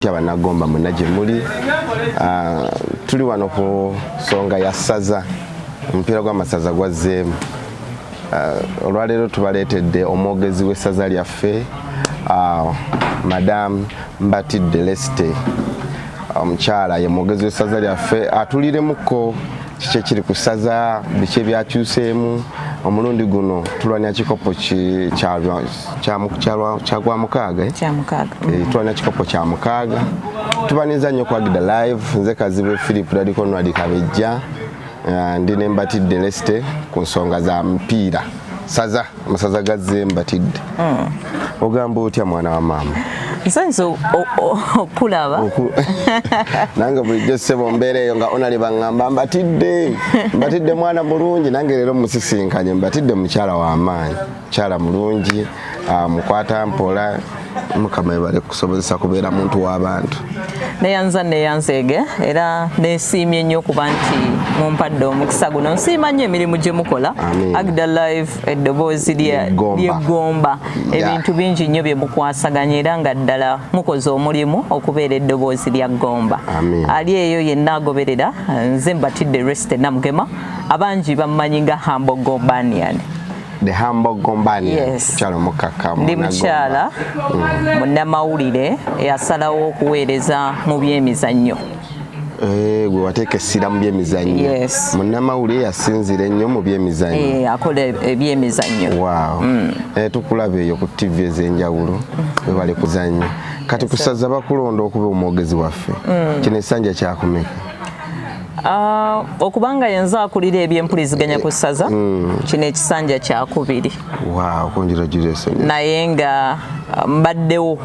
Kya Bannagomba mwenna gye muli, ah, tuli wano ku nsonga ya ssaza, omupiira gw'amasaza gwazzeemu. Ah, olwaleero tubaleetedde omwogezi w'essaza lyaffe ah, Madam Mbatidde Lesite, omukyala ye mwogezi w'essaza lyaffe, atuliremuko kiki ekiri ku ssaza biki ebyakyuseemu omulundi guno tulwanya kikopo kyagwa mukaaga eh? eh, tulwanya kikopo kya mukaaga tubaniza nnyo kwagida live nze kazibwe philip dadikonwadi kabejja eh, ndi nembatidde leste ku nsonga za mupiira saza masaza gazze mbatidde hmm. ogamba otya mwana wa maama nsanyusa okulaba nange bulijjo ssebo mbeera eyo nga onali baŋŋamba mbatidde mbatidde mwana mulungi nange leero musisinkanye mbatidde mukyala w'amaanyi mukyala mulungi ah, mukwata mpola mukama ebale kusobozesa kubeera muntu w'abantu neyanza neyanzeege era nesiimye nnyo kuba nti mumpadde omukisa guno nsiima nnyo emirimu gye mukola agda live eddoboozi lyeggomba ebintu bingi nnyo bye mukwasaganya era nga ddala mukoze omulimu okubeera eddoboozi lya ggomba ali eyo yenna agoberera nze mbatidde resite namugema abangi bammanyi nga hambo gombanian the humble gombani yes. mukyala omukkakkamu ndi mukyala mm. munnamawulire eyasalawo okuweereza mu byemizannyo eh, gwe wateeka essira mu byemizannyo munnamawulire yasinzira ennyo mu byemizannyo eh, akola ebyemizannyo waaw mm. eh, tukulaba eyo ku tivi ez'enjawulo mm. webale kuzannya kati kusaza bakulonda okuba omwogezi waffe mm. kino ekisanja kyakumeka Uh, okuba nga yenze akulira ebyempuliziganya ku ssaza mm. kino ekisanja kyakubiri wow, naye nga uh, mbaddewo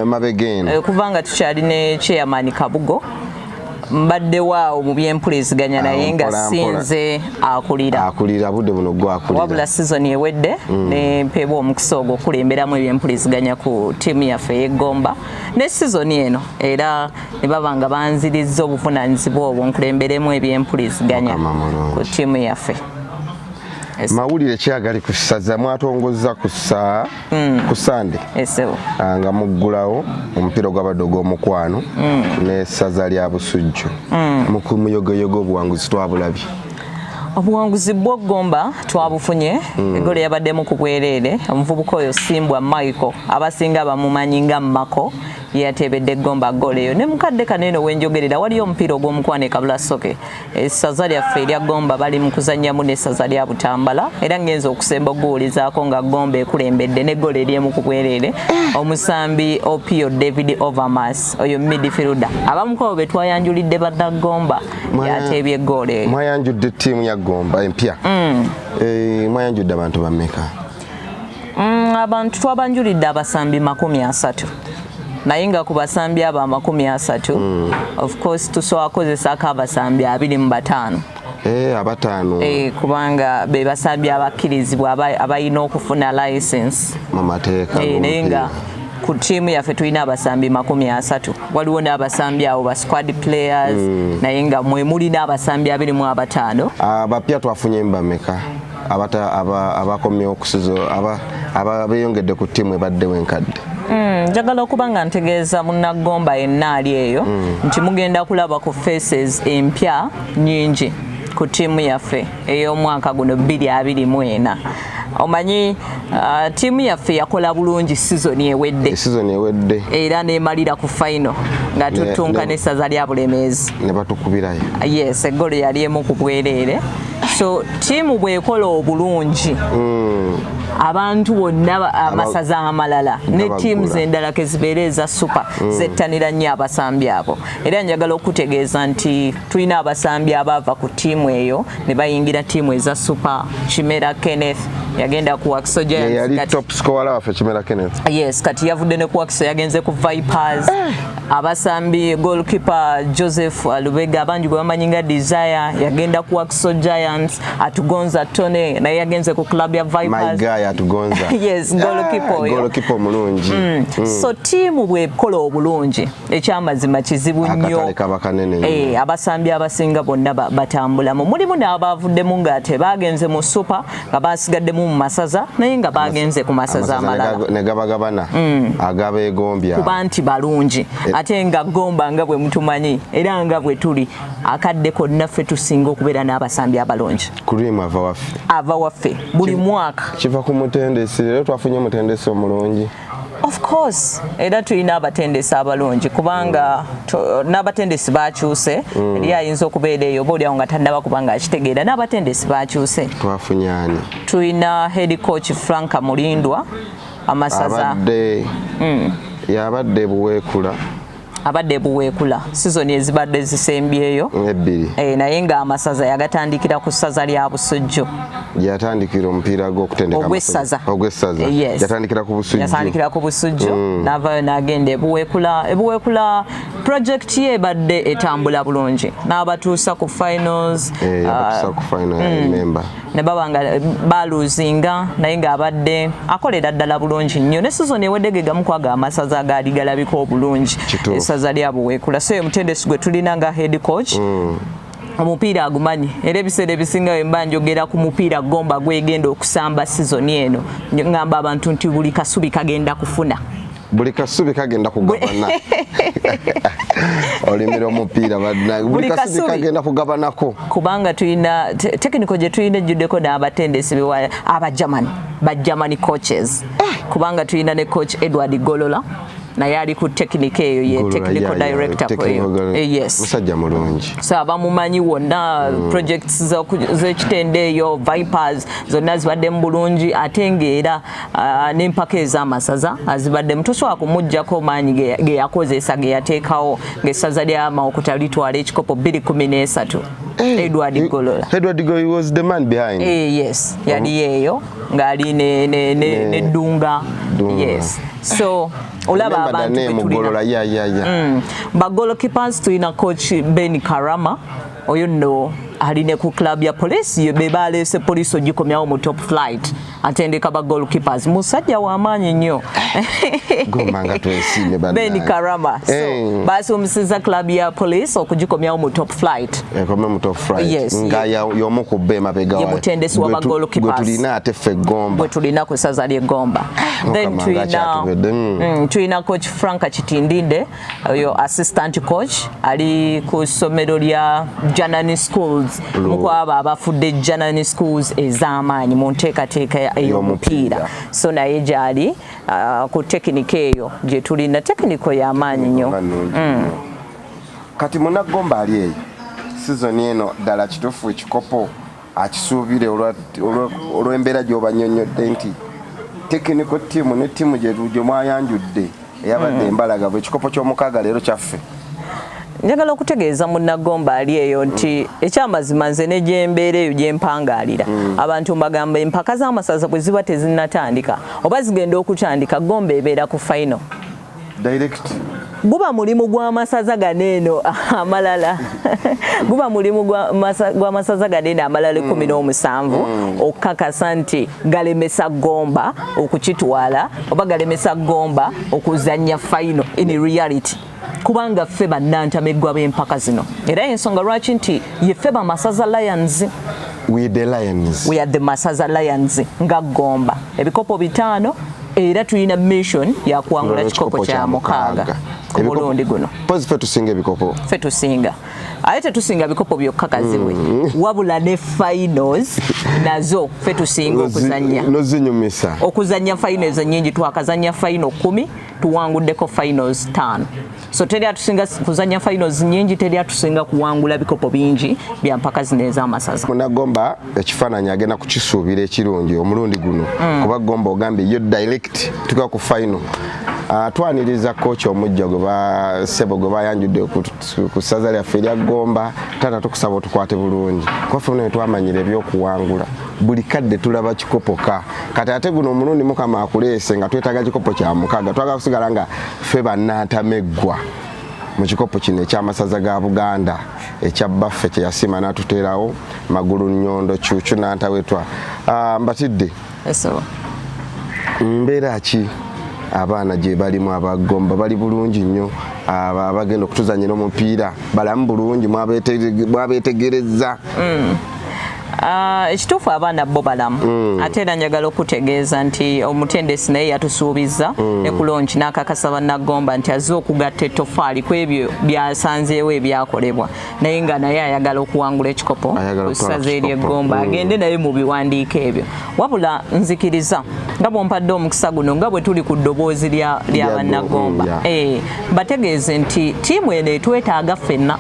emabega eno eh, okuva nga tukyali ne chairman kabugo mbaddewo awo mu byempuliziganya naye nga sinze akulira akulira budde buno gwakulira wabula sizoni ewedde mm. nempeebwa omukisa ogwo okulemberamu ebyempuliziganya ku tiimu yaffe ey'eggomba ne sizoni eno era ne baba nga banzirizza obuvunaanyizibwa obwo nkulemberemu ebyempuliziganya ku ttiimu yaffe mawulire ki agali ku ssaza mwatongozza ku saa hmm. ku sande ah, nga muggulawo omupiira ogwabadde ogw'omukwano hmm. n'essaza lya busujju hmm. mukumuyogoyogo obuwanguzi twabulabye obuwanguzi bwogomba twabufunye mm. egolo yabaddemu ku bwereere omuvubuka oyo simbwa michael abasinga bamumanyi nga mako yeyateebedde Gomba ggoolo eyo ne mukadde kano eno wenjogerera waliyo omupiira ogw'omukwano e Kabula Soke essaza lyaffe erya Gomba bali mu kuzannyamu n'essaza lya Butambala era ngenza okusemba okuguwulizaako nga Gomba ekulembedde ne ggoolo eryemu ku bwereere eh. omusambi Opio David Overmas oyo midfielder abamukawo be twayanjulidde badda Gomba yateebye ggoolo eyo mwayanjudde ttiimu ya Gomba empya mm. eh, mwayanjudde abantu bameka Mm, abantu twabanjulidde abasambi makumi asatu naye nga ku basambi abo amakumi asatu mm. of course tusobola kukozesako abasambi abiri mu bataano Eh, abataano eh, kubanga be basambi abakkirizibwa abalina okufuna license mu mateeka eh, naye nga ku tiimu yaffe tulina abasambi makumi asatu waliwo n'abasambi awo ba squad players mm. naye nga mwe mulina abasambi abiri mu abataano abapya ah, twafunye mbameka abata abakomyewo okusiza aba beyongedde ku ttiimu ebaddewo enkadde hmm, njagala okuba nga ntegeeza munaggomba yenna ali eyo hmm. nti mugenda kulaba ku faces empya nyingi ku ttiimu yaffe ey'omwaka guno 224 omanyi uh, tiimu yaffe yakola bulungi sizoni ewedde eh, ewedde era nemalira ku faino nga tutunka n'essaza lya bulemeezi ne batukubirayo yes eggolo yali emu ku bwereere so tiimu bwekola obulungi mm. abantu bonna amasaza amalala ne tiimu zendala kezibeera eza supa mm. zettanira nnyo abasambi abo era njagala okutegeeza nti tulina abasambi abaava ku tiimu eyo ne bayingira tiimu eza supa kimera kenneth yagenda ku wakiso yes kati yavudde ne ku wakiso yagenze ku vipers eh. abasambi goalkeeper joseph lubega abangi gwe bamanyi nga desire yagenda ku waxo giants atugonza tony naye yagenze ku club ya vipersyees goalkeeper omulungi mm. mm. so tiimu bwekola obulungi ekyamazima kizibu nnyo eh, abasambi abasinga bonna batambulamu mulimu n'abaavuddemu ng'ate baagenze mu super nga basigaddemu mu masaza naye nga bagenze ku masaza amalala ne gabagabana mm. agabeegombya kuba nti balungi e- ate nga gomba nga bwe mutumanyi era nga bwe tuli akadde konna ffe tusinga okubeera n'abasambi abalungi cream ava waffe ava waffe buli mwaka kiva ku mutendesi leero twafunye omutendesi omulungi Of course era tulina abatendesi abalungi kubanga n'abatendesi bakyuse mm. eri ayinza okubeera eyo oba olyawo nga tannaba kubanga akitegeera n'abatendesi bakyuse twafunyani tulina head coach Frank Mulindwa amasaza abadde mm. yabadde buweekula abadde buweekula sizoni ezibadde zisembyeyo ebbiri e, naye ng'amasaza yagatandikira ku ssaza lya busujju yatandikira omupiira gwokutendekaogwessaza ogwessaza yes. yatandikira ku busujju yatandikira ku busujju mm. navayo nagenda ebuweekula ebuweekula projekiti ye ebadde etambula bulungi n'abatuusa ku finals eh, abatuusa uh, ku final mm. member ne baba nga eh, baluzinga naye ng'abadde akolera ddala bulungi nnyo ne sizoni ewedde ge gamu kwaga amasaza agaali galabika obulungi esaza lya buweekula so omutendesi gwe tulina nga head coach mm. omupiira agumanyi era ebiseera ebisinga wemba njogera ku mupiira gomba gwegenda okusamba sizoni eno ngamba abantu nti buli kasubi kagenda kufuna buli kasubi kagenda kugabana olimira omupiira badna buli kasubi kagenda kugabanako kubanga tulina tekiniko gye tulina ejjuddeko n'abatendesi bewa aba german ba germany coaches eh. kubanga tulina ne coach edward golola naye ali ku tekinika eyo ye technical director eyo eh, yes musajja mulungi so abamumanyi wonna mm. projects z'ekitende eyo vipers zonna zibadde mu bulungi ate ng'era uh, n'empaka ez'amasaza azibaddemu tosobola kumuggyako maanyi ge yakozesa ge yateekawo ng'essaza lya mawokota litwala ekikopo 213 eh, edward eh, golola edward golola was the man behind eh, yes yali yeeyo ng'ali ne, ne, ne, ne dunga yes so olaba abantu bagolokipas mm. tulina coach ben karama oyo nno ali ne ku club ya police ye be baleese police ogikomyawo mu top flight atendeka ba goalkeepers musajja wa maanyi nnyo gomba nga twesiime bana ben karama so eh. baasumisiza club ya police okugikomyawo mu top flight ekome eh, mu top flight yes, nga ye, yomu ku be mabega wa mutendesi wa ba goalkeepers gwe tulina ate ffe gomba gwe tulina ku saza lye gomba ah, then tulina mm, tulina coach frank kitindinde oyo assistant coach ali ku ssomero lya janani schools mukwabo abafudde janani schools ez'amaanyi mu nteekateeka ey'omupiira so naye gyali uh, ku tekinika eyo gye tulina tekiniko y'amaanyi nnyo mm. kati munagomba ali eyo sizoni eno ddala kituufu ekikopo akisuubire olw'embeera gy'obanyonnyodde nti tekiniko ttiimu ne ttiimu gye mwayanjudde eyabadde hmm. embalaga bwe ekikopo ky'omukaaga leero kyaffe njagala okutegeeza munnagomba ali eyo nti hmm. ekyamazima nze ne gyembeera eyo gyempangaalira hmm. abantu mbagamba empaka z'amasaza bwe ziba tezinatandika oba zigenda okutandika gomba ebeera ku fayino direct guba mulimu gwa masaza gano eno amalala guba mulimu gwa masaza gano eno amalala ekumi mm. n'omusanvu mm. okukakasa nti galemesa gomba okukitwala oba galemesa gomba okuzannya fayino in reality kubanga ffe bannantameggwa b'empaka zino era ensonga lwaki nti yeffe bamasaza lions we the lions we are the masaza lions nga gomba ebikopo bitaano era tulina mission ya kuwangula kikopo kya mukaaga ku mulundi guno pozi fe tusinga ebikopo fe tusinga aye tetusinga bikopo byokka kazibwe mm. wabula ne finals nazo fe tusinga okuzanya nozinyumisa okuzanya finals nyingi twakazanya final kumi tuwanguddeko finals tano so teri atusinga kuzanya finals nyingi teri atusinga kuwangula bikopo bingi bya mpaka zino ez'amasaza munagomba ekifaananyi agenda kukisuubira ekirungi omulundi guno mm. kuba gomba ogambye yo direct tuka ku final Ah, twaniriza koki omujja gwe basebo gwe bayanjudde ku ssaza lyaffe erya gomba taata tukusaba otukwate bulungi kwaffe naye twamanyira ebyokuwangula buli kadde tulaba kikopo ka kati ate guno omulundi mukama akuleese nga twetaaga kikopo kya mukaaga twagala kusigala nga ffe bannantameggwa mu kikopo kino ekyamasaza ga buganda ekya bbaffe kyeyasiima n'atuteerawo magulu nnyondo kyukyu nantawetwa ah, mbatidde mbeera ki abaana gye balimu abagomba bali bulungi nnyo abagenda okutuzanyira omupiira balamu bulungi mwabeetegereza mm. Ah, ekituufu abaana bo balamu mm. ate era njagala okutegeeza nti omutendesi naye yatusuubizza mm. ne kulonki n'akakasa bannagomba nti azze okugatta ettofaali ku ebyo byasanzeewo ebyakolebwa naye nga naye ayagala okuwangula ekikopo ku ssaza ery'eggomba mm. agende naye mu biwandiiko ebyo wabula nzikiriza nga bwompadde omukisa guno nga bwe tuli ku ddoboozi lya bannagomba eh, bategeeze nti tiimu eno etwetaaga ffenna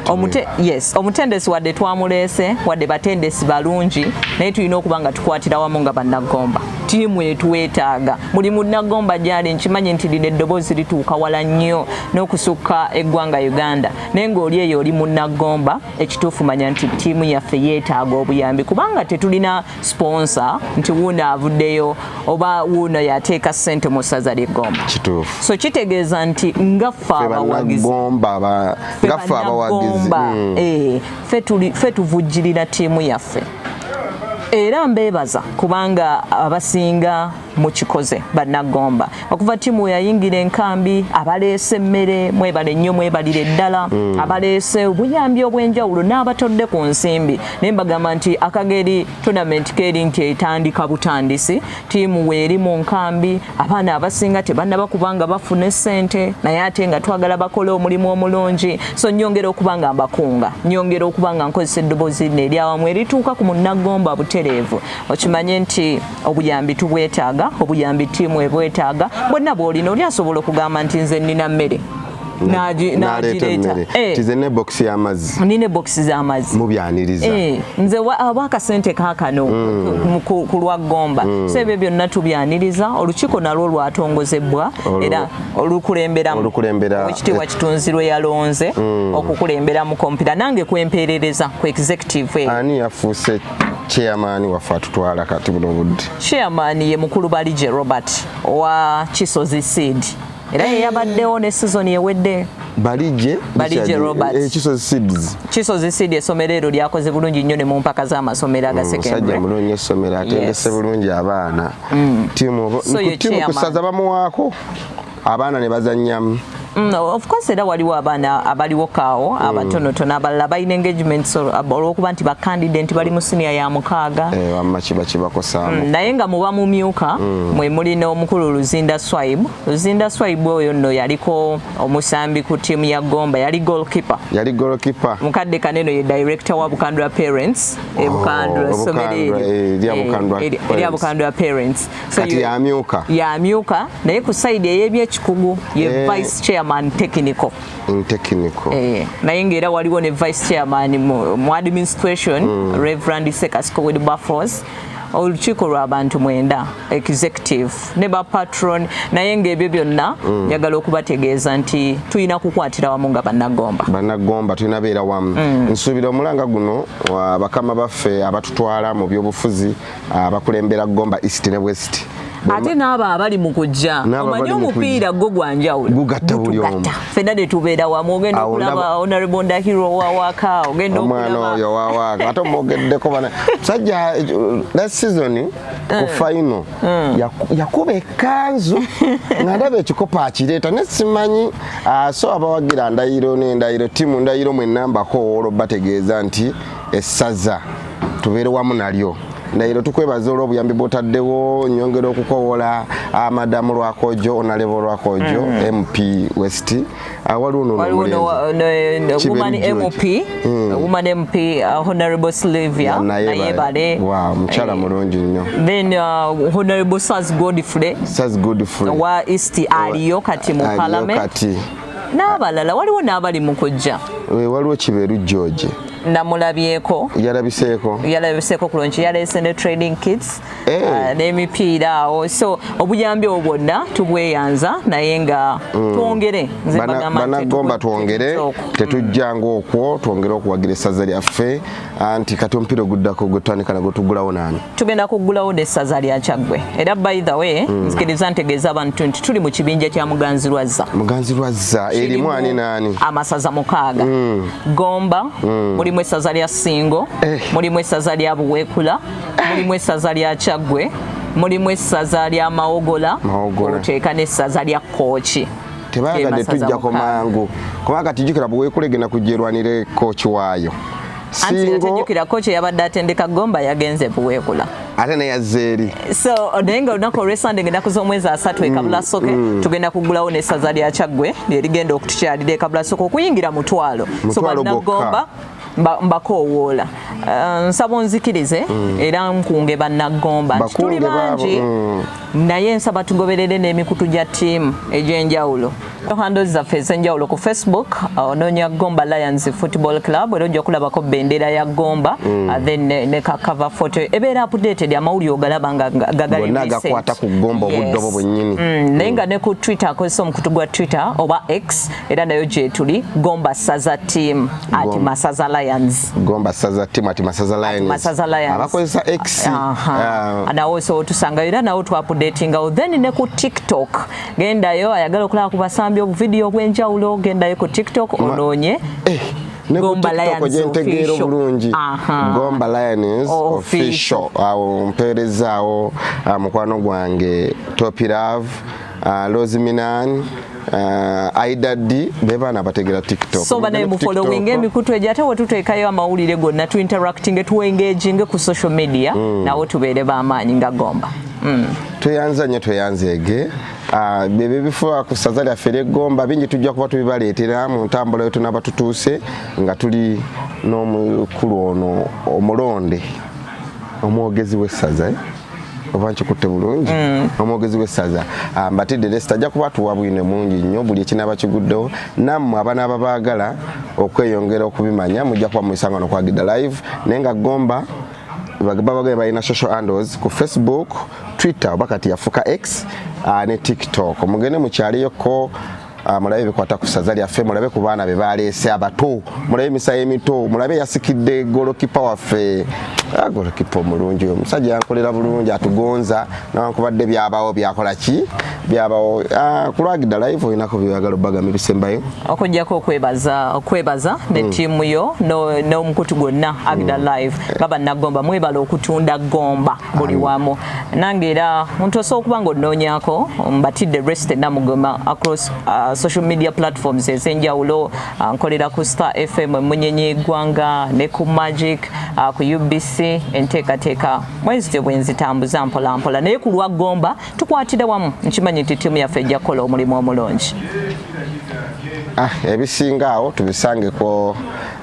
Omute, yes omutendesi wadde twamuleese wadde batendesi balungi naye tulina okuba nga tukwatira wamu nga bannagomba tiimu etwetaaga buli munnagomba gyali nkimanyi nti lino eddoboozi lituuka wala nnyo n'okusukka eggwanga uganda naye ng'oli eyo oli munnagomba ekituufu manya nti tiimu yaffe yeetaaga obuyambi kubanga tetulina sponsor nti wuuno avuddeyo oba wuuno yateeka ssente mu ssaza lye Gomba. Kituufu. So kitegeeza nti nga ffe abawagizi nga ffe abawagizi mm. eh, ffe tuvujjirira ttiimu yaffe era mbeebaza kubanga abasinga mukikoze bannagomba okuva tiimu weyayingira enkambi abaleese emmere mwebale nnyo mwebalire ddala mm. abaleese obuyambi obw'enjawulo n'abatodde ku nsimbi naye mbagamba nti akageri tonamenti keeri nti etandika butandisi tiimu weeri mu nkambi abaana abasinga tebannaba kubanga bafune ssente naye ate nga twagala bakole omulimu omulungi so nyongera okuba nga mbakunga nyongera okuba nga nkozesa eddoboozi nno eryawamu erituuka ku munnagomba butereevu okimanye nti obuyambi tubwetaaga obuyambi tiimu ebwetaaga bwonna bwolina oli asobola okugamba nti nze nnina mmere nagiretaene bokisi eh. yamazzi nina bokisi zamazzi mubyaniriza eh, nze aba akasente kakano mm. ku lwa gomba mm. so ebyo byonna tubyaniriza olukiiko nalwo lwatongozebwa era olukulemberamukitiibwa eh. kitunzi lwe yalonze mm. okukulembera mu kompira nange kwempeerereza ku executive ani yafuuse chairman waffe atutwala kati buno budde chairman ye mukulu balije robert owa kisozi seed era ye yabaddewo ne sizoni ewedde balije balije robert eh, kisozi seeds kisozi seed esomero ero lyakoze bulungi nnyo ne mu mpaka z'amasomero mm, agasekendmusajja mulungi essomero atendese bulungi abaana mm. timu kusaza bamuwaako abaana ne bazannyamu Mm, of course era waliwo abaana abaliwo kaawo mm. abatonotono abalala balina engagements olwokuba nti bakandida nti bali mu siniya ya mukaaga eh, mm, naye nga muba mumyuka mwe muli n'omukulu luzinda swaib luzinda swaib oyo nno yaliko omusambi ku tiimu ya gomba yali golkipe yali golkipe mukadde kaneno ye director wa bukandula parents ebukandula oh, somero eryo eh, erya bukandula parents kati yamyuka yamyuka naye ku side eyebyekikugu ye eh. vice chairman technical in technical eh naye ngera waliwo ne vice chairman mu, mu administration mm. reverend sekasiko with buffos olukiiko lwabantu mwenda executive ne ba patron naye ngaebyo byonna mm. njagala mm. okubategeeza nti tulina kukwatira wamu nga banagomba banagomba tulina beera wamu mm. nsuubira omulanga guno bakama baffe abatutwala mu byobufuzi abakulembera ah, Gomba East ne West ate n'abo abali mu kujja omanyi omupiira gwo gwa njawulo gugatta buli omu fenna ne tubeera wamu ogenda okulaba honorable ndahiro wawaaka ogenda omwana oyo wawaaka ate omwogeddeko bana sajja last season eh. ku fayino eh. yakuba ekanzu nga ndaba ekikopo akireeta ne simanyi ah, so abawagira ndayiro n'endayiro tiimu ndayiro mwe nambako owolwo bategeeza nti essaza tubeere wamu nalyo naero tukwebaza olwo obuyambi bwotaddewo nyongera okukowola ah, madamu lwakojo onalebo lwakojo mp mm. west ah, waliwo nomukyala mulungi nnyo uh, godfrey wa east aliyo kati mu parliament n'abalala waliwo n'abali mu kujja eh, waliwo kibeeru george namulabyeko yalabiseeko yalabiseeko kulungi yaleese ne trading kits eh. ah, n'emipiira awo so obuyambi obwo bwonna tubweyanza naye nga mm. twongere banagomba twongere tetujjanga okwo twongere okuwagira essaza lyaffe anti kati omupiira oguddako gwetutandika nagwo tugulawo naani tugenda kugulawo de saza lya kyaggwe era by the way mm. nzikiriza ntegeeza abantu nti tuli mu kibinja kya muganzi lwazza muganzi lwazza erimu ani naani amasaza mukaaga mm. gomba mm. mulimu esaza lya singo eh. mulimu esaza lya buweekula eh. mulimu esaza lya kyaggwe mulimu esaza lya mawogola oteeka n'essaza lya kooki tebayagadde tujjako mangu kuba kati jukira bwekulegenda kujerwanire koki waayo antinatejukira koki eyabadde atendeka gomba yagenze buweekula ate neyazze eri so naye nga olunaku olwesande ngenda kuza omwezi asatu ekabula mm, soke mm. tugenda kugulawo nesaza lya kyaggwe lyerigenda okutukyalira ekabula soke okuyingira mutwalo so banagomba mbakoowoola eh, nsaba onzikirize mm. era nkunge bannaggomba nti tuli bangi mm. naye nsaba tugoberere n'emikutu gya ttiimu egy'enjawulo hando zaffe ezenjawulo ku facebook uh, ononya gomba lions football club era ojja kulabako bendera ya gomba mm. uh, then ne, ne kakava photo ebeera updated amawulire ogalaba nga gagaligakwata ku gomba obudde obwo bwennyini mm, naye nga mm. ne ku twitter akozesa omukutu gwa twitter oba x era nayo gyetuli gomba saza team at masaza lions gomba saza team at masaza lions masaza lions abakozesa x uh, nawo so tusanga era nawo tu updatinga then ne ku tiktok genda yo ayagala okulaba ku basambi obu video obwenjawulo genda yo ku tiktok ononye eh. Gomba Lions gyentegeera obulungi Gomba Lions official awo mpeerezaawo ah, mukwano gwange Topirave ah, Rosiminan Uh, aida ddi bebaana abategera tiktok so banaye mufolowinga emikutu egyo ate wetuteekayo amawulire gonna tu interactinge tu engaginge ku social media mm. nawo tubeere bamaanyi nga gomba mm. tweyanza nnyo tweyanzeege uh, byebyo bifuba ku ssaza lyaffe ery'eggomba bingi tujja kuba tubibaleetera mu ntambula yo tunaba tutuuse nga tuli n'omukulu ono omulonde omwogezi w'essaza eh? oba nkikutte bulungi mm. omwogezi w'essaza ah, mbatidde lesita ajja kuba tuwa bwine mungi nnyo buli ekinaaba kiguddewo nammwe abana ababaagala okweyongera okubimanya mujja kuba muisanga nokwagidda live naye nga gomba babagaye balina social handles ku facebook twitter oba kati yafuka x ah, ne tiktok mugende mukyaliyoko Ah, mulabe bikwata ku ssaza lyaffe mulabe ku baana be baleese abato mulabe emisayi emito mulabe yasikidde golokipa waffe ah, golokipa omulungi oyo omusajja yankolera bulungi atugonza nawankubadde byabawo byakola ki byabawo ah, kulwagidda live olinako byeyagala obagamba ebisembayo okujjako okwebaza okwebaza ne hmm. tiimu yo n'omukutu gwonna agida hmm. live nga bannagomba mwebala okutunda gomba buli wamu nange era muntu osobola okuba nga onoonyako mbatidde rest enamugema across uh, social media platforms ez'enjawulo uh, nkolera ku star fm emunyenye egwanga ne ku magic uh, ku ubc enteekateeka mwezityo bwenzitambuza mpolampola naye ku lwa gomba tukwatire wamu nkimanyi nti ttiimu yaffe ejja kukola omulimu omulungi ah, ebisinga awo tubisangeko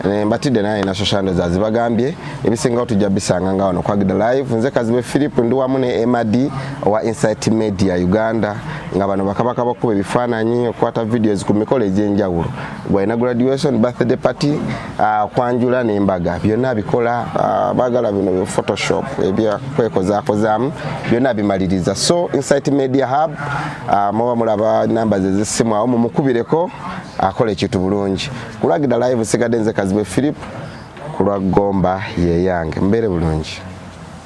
eh, mbatidde naye na social media zazibagambye ebisingawo tujja bisanga nga wano kwagida live nze kazibe philip ndi wamu ne emad owa insight media uganda nga bano bakabaka bakuba ebifaananyi okukwata videos ku mikolo egy'enjawulo gwalina graduation birthday party Ah, kwanjula nembaga byonna bikola ah, bagala bino byo photoshop ebyokwekozakozamu byonna bimaliriza so insight media hub ah, muba mulaba namba zezisimu awo mumukubireko akola ekintu bulungi kulagida live sigadde nze kazibwe philip kulwa gomba yeyange mbeere bulungi